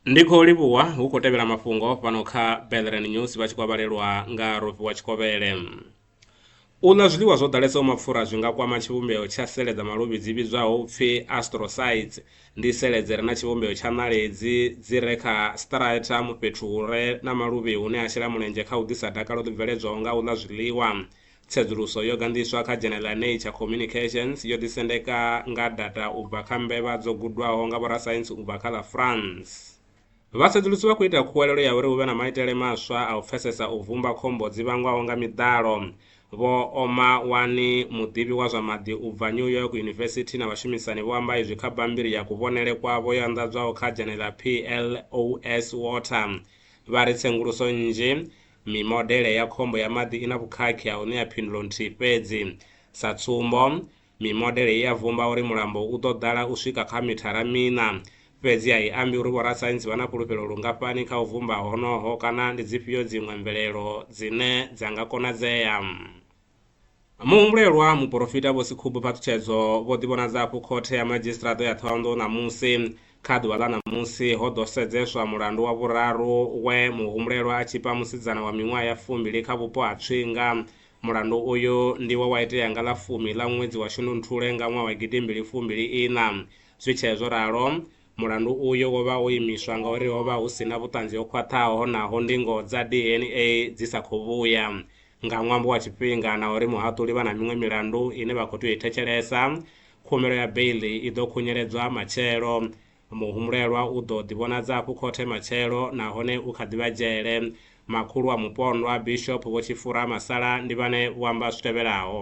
ndi khou livhuwa hu khou tevhela mafhungo fhano kha belren news vha tshi kwavhalelwa nga rofi wa tshikovhele u ḽa zwiḽiwa zwo ḓalesaho mapfura zwi nga kwama tshivhumbeo tsha sele dza maluvhi dzi vhidzwaho upfi astrocytes ndi sele dzi re na tshivhumbeo tsha ṋaledzi dzi re kha stratum fhethu hu re na maluvhi hune a shela mulenzhe kha u ḓisa dakalo ḽi bveledzwaho nga u ḽa zwiḽiwa Tsedzuluso yo ganḓiswa kha Dzhenele ya Nature Communications yo ḓisendeka nga data u bva kha mbevha dzo gudwaho nga vhorasaintsi u bva kha ḽa France. Vhatsedzulusi vha khou ita khuwelelo ya uri hu vhe na maitele maswa a u pfesesa u vhumba khombo dzi vhangwaho nga miḓalo. Vho Oma Wani, muḓivhi wa zwa maḓi u bva New York University na vhashumisani vho amba izwi kha bammbiri ya kuvhonele kwavho yo anḓadzwaho kha dzhenele ḽa PLOS Water vha ri tsenguluso nnzhi Mimodele ya khombo ya maḓi i na vhukhakhi ha u ṋea phindulo nthihi fhedzi. Sa tsumbo, mimodele i ya vhumba uri mulambo u ḓo ḓala u swika kha mithara miṋa. Fhedzi a i ambi uri vhorasaintsi vha na fhulufhelo lungafhani kha u vhumba honoho kana ndi dzifhio dziṅwe mvelelo dzine dza nga konadzea. Muhumbulelwa, Muporofita Vho Sekhubu Phaṱhutshedzo, vho ḓivhonadza afho khothe ya madzhisiṱiraṱa ya Thohoyandou ṋamusi. Kha ḓuvha ḽa ṋamusi ho ḓo sedzeswa mulandu wa vhuraru we muhumbulelwa a tzhipa musidzana wa miṅwaha ya fumbili kha vhupo ha Tswinga. Mulandu uyu ndi we wa itea nga ḽa fumi ḽa ṅwedzi wa Shundunthule nga ṅwaha wa gidimbili fumbili iṋa. Zwi tshee zwo ralo, Mulandu uyu wo vha wo imiswa ngauri ho vha hu si na vhuṱanzi ho khwaṱhaho naho ndingo dza DNA dzi sa khou vhuya. Nga ṅwambo wa tshifhinga na uri muhaṱuli vha na miṅwe milandu ine vha khou tea u i thetshelesa, khumbelo ya beiḽi i ḓo khunyeledzwa matshelo. Muhumbulelwa u ḓo ḓivhonadza hafhu khothe matshelo nahone u kha ḓi vha dzhele. Makhulu wa mupondwa, Bishop Vho Tshifura Masala, ndi vhane vho amba zwi tevhelaho.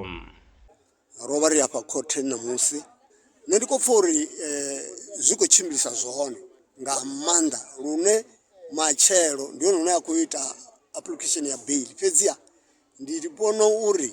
ro vha ri afha khothe ṋamusi nṋe ndi kho pfha uri zwi khou tshimbilisa zwone nga maanḓa lune matshelo ndi hone hune a khou ita application ya beiḽi fhedziha ndi vhona uri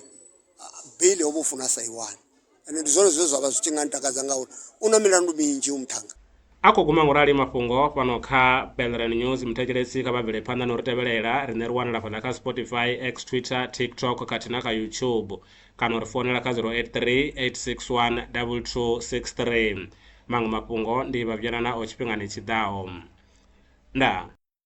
beiḽi ho vha u funa sa i wani ende ndi zwone zwine zwavha zwi tshi nga ntakadza ngauri u na milandu minzhi hoyu muṱhannga. A khou guma ngorali mafhungo fhano kha Belrand News. Muthetshelesi kha vha bvele phanḓa no ri tevhelela. Riṋe ri wanala fhaḽa kha Spotify, X, Twitter, TikTok khathihi na kha YouTube. Kana u ri founela kha 0838612263. Maṅwe mafhungo ndi Vhavhuyelana o tshifhingani tshi ḓaho. Ndaa.